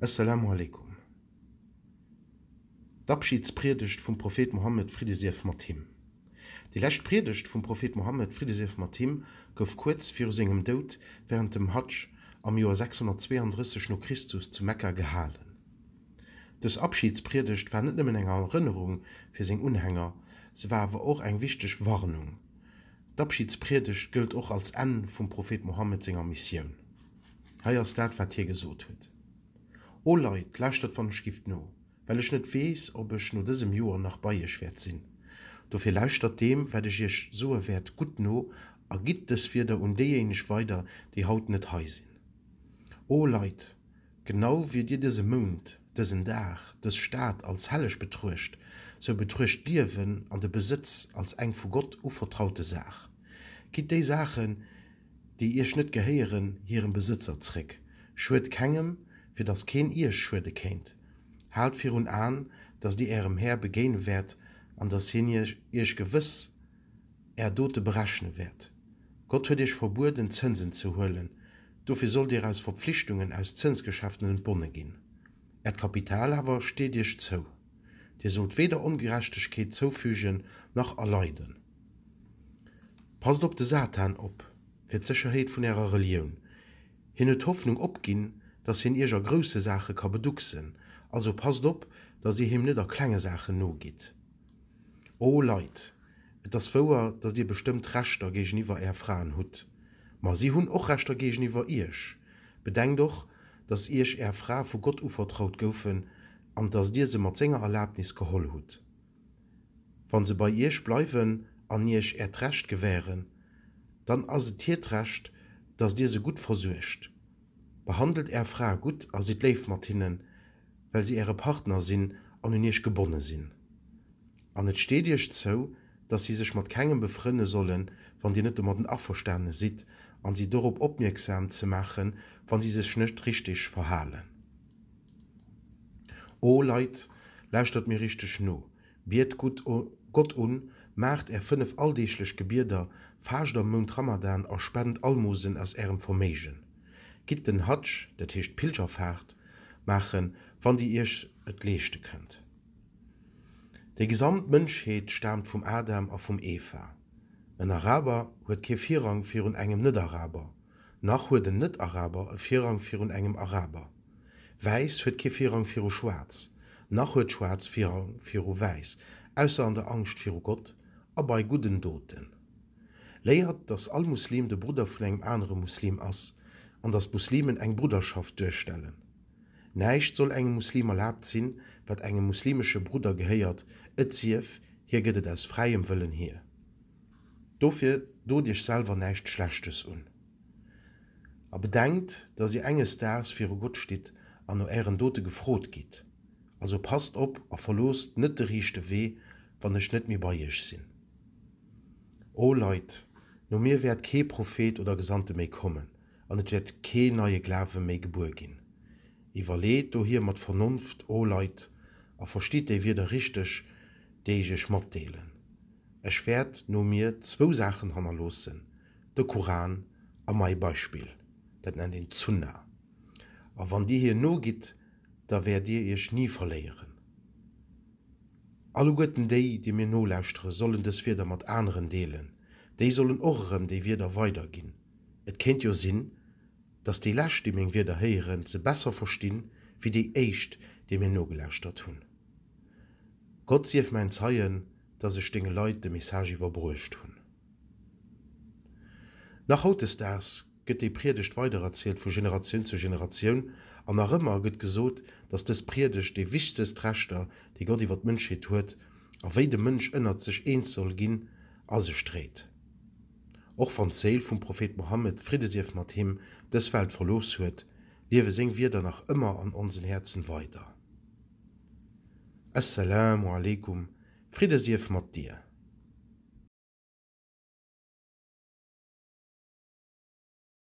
Esselamu Alaikum, d'Abschidspriedegt vum Prophet Mohammed, Fridde sief mat him. Déi lescht Priedegt vum Prophet Mohammed, Fridde sief mat him, gouf kuerz viru sengem Doud wärend dem Hadsch am Joer 632 no Christus zu Mekka gehalen. Dës Abschidspriedegt war net nëmmen eng Erënnerung fir seng Unhänger, se war awer och eng wichteg Warnung. D'Abschidspriedegt gëllt och als Enn vum Prophet Mohammed senger Missioun. Hei ass dat, wat hie gesot huet, O Leit, lauschtert wann ech giff no, well ech net weess, ob ech no dësem Joer nach bei iech wäert sinn. Dofir lauschtert deem, wat ech iech soe wäert, gutt no a gitt dës Wierder un déijéineg weider, déi haut net hei sinn. O Leit, genau wéi dir dëse Mount, dësen Dag, dës Stad als helleg betruecht, sou betruecht d'Liewen an de Besëtz als eng vu Gott uvertraute Saach. Gitt déi Saachen, déi Iech net gehéieren, hirem Besëtzer zréck. Schued kengem, fir datt keen Iech schuede kéint. Haalt virun Aen, datt Dir Ärem Här begéine wäert an datt hien Iech gewëss Är Dote berechne wäert. Gott huet Iech verbueden, Zënsen ze huelen, dofir sollt Dir aus Verpflichtungen aus Zënsgeschäften entbonne ginn. Äert Kapital awer steet Iech zou. Dir sollt weder Ongerechtegkeet zoufügen nach erleiden. Passt op de Satan op, fir d'Sécherheet vun ärer Relioun. Hien huet d'Hoffnung opginn, datt hien iech a grousse Saache ka beducksen, also passt op, datt dir him net a klenge Saachen nogitt. O Leit, et ass wouer, datt dir bestëmmt Rechter géigeniwwer är Fraen hutt, ma si hunn och Rechter géigeniwwer iech. Bedenkt och, datt iech är Frae vu Gott uvertraut goufen an datt dir se mat senger Erlabnis geholl hutt. Wa se bei Iech bleiwen an Iech Äert Recht gewähren, dann ass et hiert Recht, datt Dir se gutt versuergt. Behandelt Är Frae gutt a sidd léif mat hinnen, well si Äre Partner sinn an un Iech gebonne sinn. An et steet Iech zou, datt si sech mat kengem befrënne sollen, wann Dir net domatten averstane sidd, an si dorop opmierksam ze maachen, wa si sech net richteg verhalen. O Leit, lauschtert mir richteg no, biet Gott un, maacht är fënnef alldeeglech Gebieder, faascht am Mount Ramadan a spent Almosen aus ärem Verméigen. Gitt den Hadsch, dat heescht d'Pilgerfaart, maachen, wann dir iech et leeschte kënnt. Déi gesamt Mënschheet staamt vum Adam a vum Eva. En Araber huet kee Virrang virun engem Net-Araber. Nach huet en Net-Araber e Virrang virun engem Araber. Wäiss huet kee Virrang viru Schwaarz. Nach huet Schwaarz Virrang viru Wäiss, ausser an der Angscht viru Gott a bei gudden Doten. Léiert, dass all Muslim de Brudder vun engem anere Muslim ass an dass d'Muslimen eng Brudderschaft duerstellen. Näischt soll engem Muslim erlaabt sinn, wat engem muslimesche Brudder gehéiert, et sief, hie gëtt et aus fräiem Wëllen hier. Dofir dot iech selwer näischt Schlechtes un a bedenkt, dass dir enges Daags viru Gott stitt an no ären Dote gefrot gitt. Also passt op a verloosst net de riichte Wee, wann ech net méi bei iech sinn. O Leit, no mir wäert kee Prophet oder Gesandte méi kommen. An et wäert kee neie Glawe méi gebuer ginn. Iwwerleet dohier mat Vernonft, o Leit, a verstitt déi Wierder richteg, déi ech iech matdeelen. Ech wäert no mir zwou Saachen hannerloossen, de Kuran a mai Beispill, dat nennt een d'Sunnah, a wann dir hir nogitt, da wäert dir iech ni verléieren. Alleguerten déi, déi mir nolauschtere sollen dës Wierder mat aneren deelen, déi sollen och erëm déi Wierder weiderginn. Et kéint jo sinn, datt déi Lescht, déi meng Wierder héieren, se besser verstinn, wéi déi Éischt, déi mir nogelauschtert hunn. Gott sief mäin Zeien, datt ech denge Leit de Message iwwerbruecht hunn. Nach hautdesdaags gëtt déi Priedegt weidererzielt vu Generatioun zu Generatioun, an nach ëmmer gëtt gesot, datt dës Priedegt déi wichtegst Rechter, déi Gott iwwer d'Mënschheet huet, a wéi de Mënsch ënnert sech eens soll ginn, a sech dréit. Och wann d'Séil vum Prophet Mohammed, Fridde sief mat him, dës Welt verlooss huet, liewe seng Wierder nach ëmmer an onsen Häerzen weider. As-Salaamu aleykum, Fridde sief mat dir!